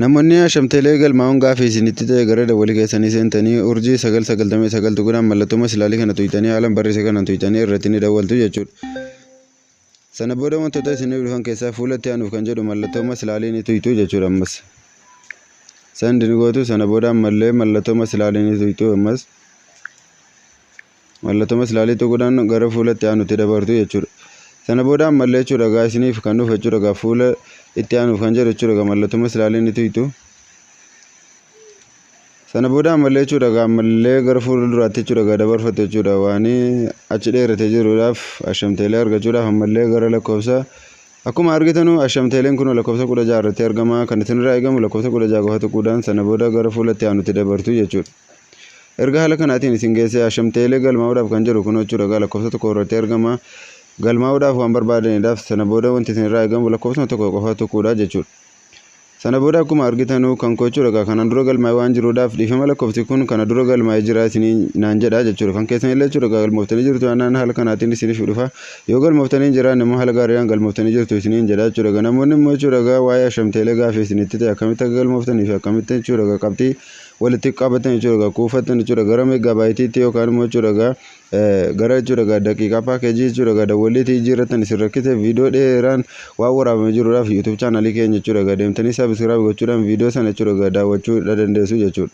Namoonni Asham Tele galmaa'uun gaafii isinitti ta'e gara dawwali keessanii seentanii urjii 999 tuqudhaan mallattoo masilaalii kana tuqxanii haalan barreese kanan tuqxanii irratti ni dawwaltu jechuudha. Sana booda wantoota isiniif dhufan keessaa fuula itti aanuuf kan jedhu mallattoo masilaalii ni tuqxu jechuudha ammas. Send ni gootu sana booda ammallee mallattoo masilaalii ni tuqxu ammas. Mallattoo maslaalii tuquudhaan gara fuula itti aanutti dabartu jechuudha. Sana booda ammallee jechuudha egaa isiniif kan dhufa jechuudha egaa fuula itti aanuuf kan jedhu jechuudha egaa mallattoo maslaalii ni tuytu. Sana booda ammallee jechuudha egaa ammallee gara fuula duraatti jechuudha egaa dabarfattu jechuudha waan achi dheeratee jiruudhaaf ashamteelee argachuudhaaf ammallee gara lakkoofsa akkuma argitanu ashamteeleen kun lakkoofsa kudha jaha irratti argama kan isinirraa eegamu lakkoofsa kudha jaha qofa tuquudhaan sana booda gara fuula itti aanutti dabartu jechuudha. Erga haala kanaatiin isin geessee Asham Teelee galmaa'uudhaaf kan jedhu kunoo jechuudha egaa lakkoofsa tokko irratti argama. Galmaa'uudhaaf waan barbaadaniidhaaf sana booda wanti isin irraa eegamu lakkoofsuma tokko qofa tuquudha jechuudha. Sana booda akkuma argitanuu kan koo jechuudha egaa kanaan dura galmaa'ee waan jiruudhaaf dhiifama lakkoofsi kun kana dura galmaa'ee jira isinii naan jedha jechuudha. Kan keessan illee jechuudha egaa galmooftanii jirtu yaannaan haala kanaatiin isiniif dhufa. Yoo galmooftanii hin jiraanne immoo haala gaariidhaan galmooftanii jirtu isiniin jedha jechuudha. Egaa namoonni immoo jechuudha egaa waa'ee Asham Teelee gaaffii isinitti ta'e akkamitti akka galmooftanii fi akkamitti jechuudha egaa qabxii walitti qabatan jechuudha egaa kuufatan jechuudha gara meeggaabaayitiitti yookaan immoo jechuudha egaa gara jechuudha egaa daqiiqaa paakeejii jechuudha egaa dawwalliitii jijjiirratan isin rakkise viidiyoo dheeraan waan waraabame jiruudhaaf yuutuub chaanalii keenya jechuudha egaa deemtanii saabisiraab gochuudhaan viidiyoo sana jechuudha egaa daawwachuu dandeessu jechuudha.